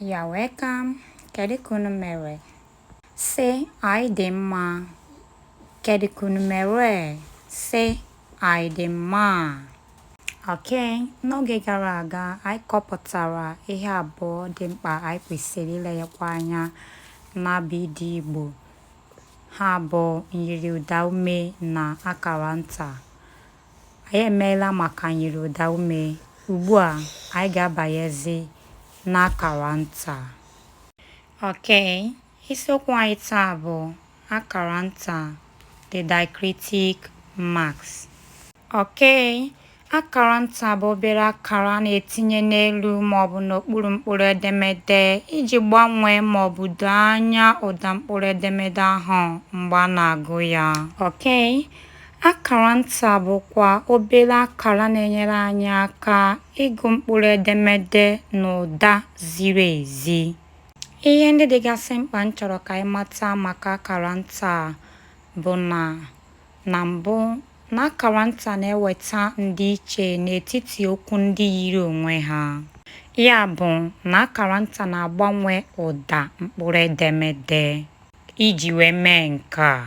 You're welcome. Kedu ka unu mere? Sị anyị dị mma. Kedu ka unu mere? Sị anyị dị mma. Ok, n'oge gara aga anyị kọpụtara ihe abụọ dị mkpa anyị kwesịrị ilenyekwa anya n'abịdị Igbo. Ha bụ myiri ụdaume na akara nta. Anyị emeela maka myiri ụda ume. Ugbu a, anyị ga-abanyezi n'akara nta. Ok, isiokwu anyị taa bụ akara nta the diacritic marks. Ok, akara nta bụ obere akara a na-etinye n'elu maọbụ n'okpuru mkpụrụ edemede iji gbanwee maọbụ doo anya ụda mkpụrụ edemede ahụ mgbe a na-agụ ya. Ok, Akara nta bụkwa obere akara na-enyere anyị aka ịgụ mkpụrụ edemede n'ụda ziri ezi. Ihe ndị dịgasị mkpa m chọrọ ka anyị mata maka akara nta bụ na na mbụ na akara nta na-eweta ndịiche n'etiti okwu ndị yiri onwe ha. Ya bụ na akara nta na-agbanwe ụda mkpụrụ edemede. Iji wee mee nke a,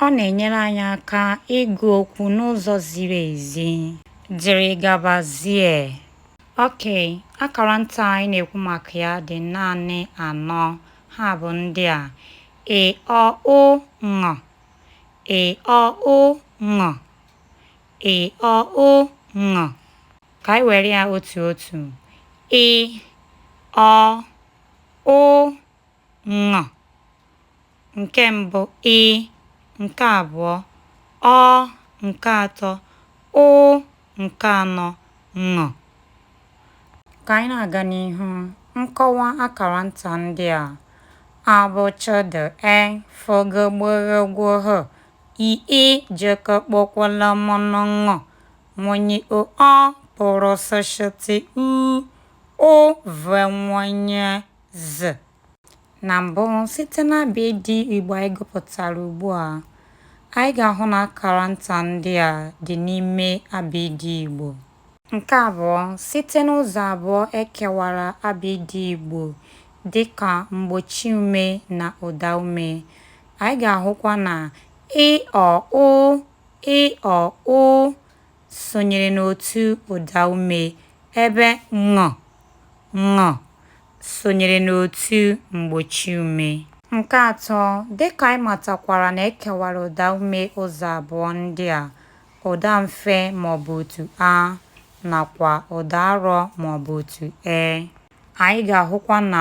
Ọ na-enyere anyị aka ịgụ okwu n'ụzọ ziri ezi. Dịrị gabazie. Ok, akara nta anyị na-ekwu maka ya dị naanị anọ. Ha bụ ndị a. Ị, ọ, ụ, ṅ. Ị, ọ, ụ, ṅ. Ị, ọ, ụ, ṅ. Ka anyị were ya otu otu. Ị, ọ, ụ, ṅ nke mbụ ị nke abụọ ọ nke atọ ụ nke anọ ṅ ka anyị na-aga n'ihu nkọwa akara nta ndị a a b ch d e f g gb gh gw h i ị j k kp kw l m n ṅ nw ny o ọ p r s sh t u ụ v w y z. Na mbụ, site n'abịdị Igbo anyị gụpụtara ugbu a, anyị ga-ahụ na akara nta ndị a dị n'ime abịdị Igbo. Nke abụọ, site n'ụzọ abụọ e kewara abịdị Igbo dị ka mgbochi ume na ụda ume, anyị ga-ahụkwa na ị, ọ, ụ, ị, ọ, ụ, sonyere n'otu ụdaume ebe ṅ, ṅ sonyere n'otu mgbochiume. Nke atọ, dị ka anyị matakwara na e kewara ụdaume ụzọ abụọ ndị a, ụda mfe ma ọ bụ otu a nakwa ụda arọ ma ọ bụ otu e. Anyị ga-ahụkwa na